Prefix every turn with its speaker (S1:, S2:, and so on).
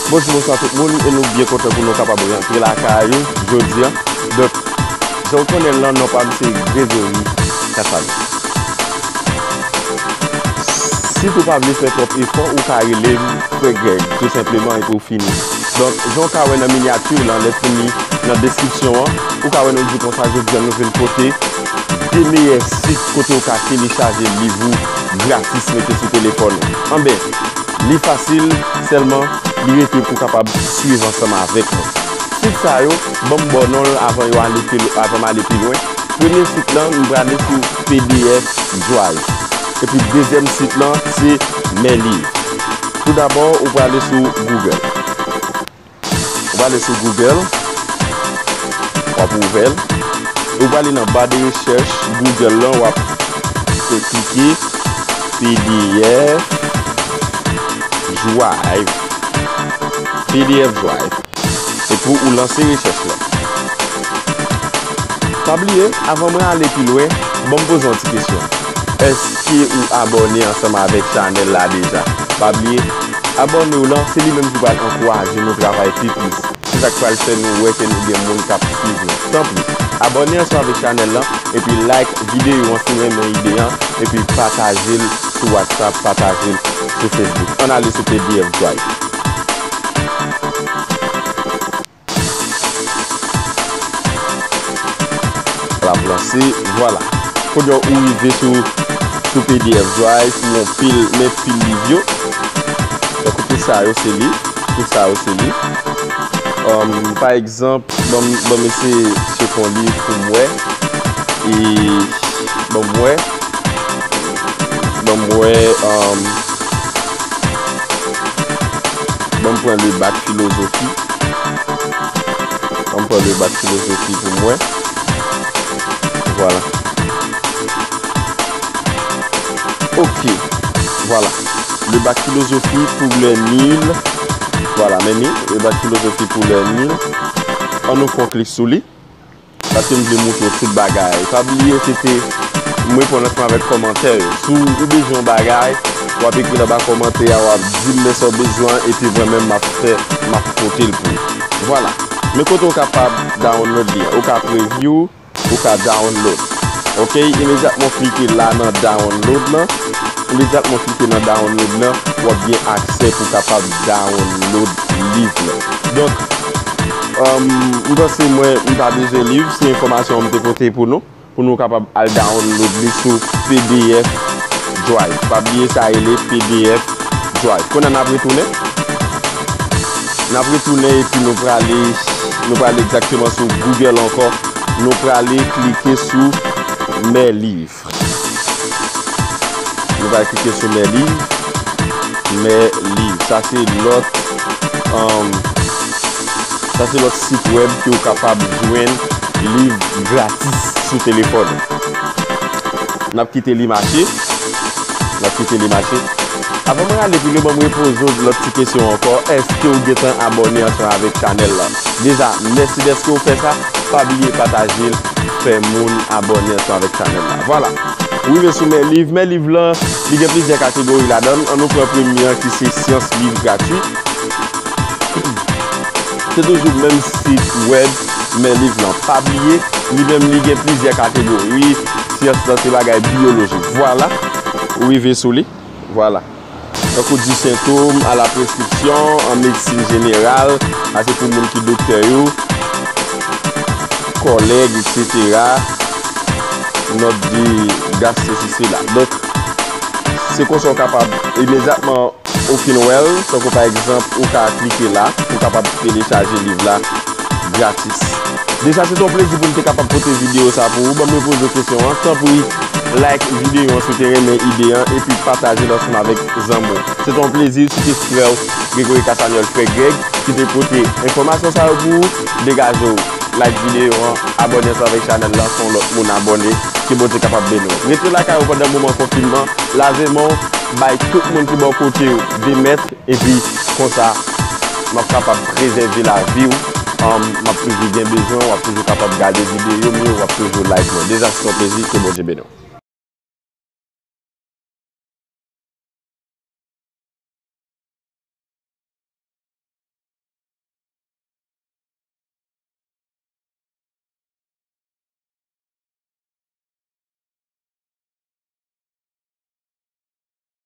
S1: Bonjou bonswa tout moun e nou byen kontan pou nou kapab rentre la ka a yo jodi an dòk zon konnen lan non pa mse Gregory Cassano si tou pa vle fè trop efò ou ka rele m frè Greg tou senpleman e pou fini Donk, jan ou ka wè nan minyati lan, lèt pou li nan deskripsyon an, ou ka wè nou di konsa jodi an nou vin pote 2 meyè sit kote ou ka telechaje liv ou gratis mete sou telefòn ou. Anben, li fasil, sèlman li rete pou kapab swiv ansanm avèk mwen. Sit sa yo, ban m ba w non l avan yo ale pi lwen, avan m ale pi lwen. Premye sit lan, m prale sou pdf drive. Epi dezyèm sit lan se Mèliv. Tou dabò, ou prale sou Google. Ou prale sou Google. W ap ouvè l. E ou prale nan ba de rechèch Google lan. W ap fè klike pdf Drive. Pdf Drive. Se pou ou lanse rechèch lan. Pa bliye, avan mwen ale pi lwen, banm poze yon ti kesyon. Èske ou abòne ansanm avèk chanèl la deja? Pa bliye, abòne w lan, se li menm ki pral ankouraje nou travay pi plis. Se sa k pral fè nou wè ke nou gen moun k ap swiv nou. Tanpri, abòne ansanm avèk chanèl lan, epi like videyo an si w renmen ide an, epi pataje l sou WhatsApp, pataje l sou Facebook. Ann ale sou pdf drive. Avanse, vwala. Kounye a ou rive sou pdf drive pou yon pil men pil liv yo. Tankou tout sa yo se liv. Tout sa yo se liv. Pa egzanp, ban m eseye cheke yon liv pou m wè. E ban m wè. Ban m wè. Banm pran le bac philosophie Banm pran le bac philosophie pou mwen Voilà Ok Voilà Le bac philosophie pou lè nil Voilà men ni Le bac philosophie pou lè nil An nou fon klik sou li Paske m vle moutre w tout bagay. Pa bliye se te M reponn ansanm avèk kòmantè yo. Si w bezwen yon bagay, w ap ekri l anba kòmantè a, w ap di m men sa w bezwen an epi mwen menm m ap fè m ap pote l pou w. Vwala. Men kote w kapab download li an. Ou ka preview, ou ka download. Ok, imedyatman w klike la nan download lan, imedyatman w klike nan download lan, w ap gen aksè pou w kapab download liv lan. Donk. M panse mwen m pa bezwen liv, se enfòmasyon m te pote pou nou, pou nou kapab al download li sou pdf drive. Pa bliye sa rele pdf drive. Kounye a n ap retounen. N ap retounen epi nou prale nou prale egzakteman sou Google ankò. Nou prale klike sou mè liv. Nou pral klike sou Mèli. Mèli. Sa se lòt, sa se lòt sit wèb ke ou kapab jwenn liv gratis sou telefòn ou. N ap kite li mache. N ap kite li mache. Avan mwen ale pi lwen, ban m repoze ou lòt ti kesyon ankò. Èske ou gen tan abòne ansanm avèk chanèl la? Deja, mèsi dèske ou fè sa. Pa bliye pataje l. fè moun abòne ansanm avèk chanèl la. Vwala! Ou rive sou men liv. Men liv lan, li gen plizyè kategori ladan l. An nou pran premye an ki se Syans Liv Gratwi. Se toujou menm sit wèb men liv lan. Pa bliye, li menm li gen plizyè kategori. Syans lan se bagay biyoloji. Vwala! Ou rive sou li. Vwala! Tankou di sentom a la preskripsyon an medsin jeneral, sa se pou moun ki doktè yo, kòlèg, eksetera, nòt de gas sesi sela. Donk, se konsa ou kapab imedyatman ou fin wè l, tankou pa egzanp ou ka klike la pou w kapab telechaje liv la gratis. Deja se te yon plezi pou m te kapab pote videyo sa pou ou, banm repoze w kesyon an, tanpri like videyo an si w te renmen ide an epi pataje l ansanm avèk zanmi w. Se te yon plezi, se te frè w Gregory Cassagnol, Frè Greg, ki te pote enfòmasyon sa yo pou ou, degaje w like videyo an, abòne ansanm avèk chanèl lan, fè yon lòt moun abòne, ke Bondye kapab beni w. Rete lakay ou pandan moman konfinman, lave men w, bay tout moun ki bò kote w 2 mèt, Epi konsa map kapab prezève lavi w humm map toujou gen bezwen w wap toujou kapab gade videyo m yo wap toujou like mwen deja se yon plezi ke Bondye beni w.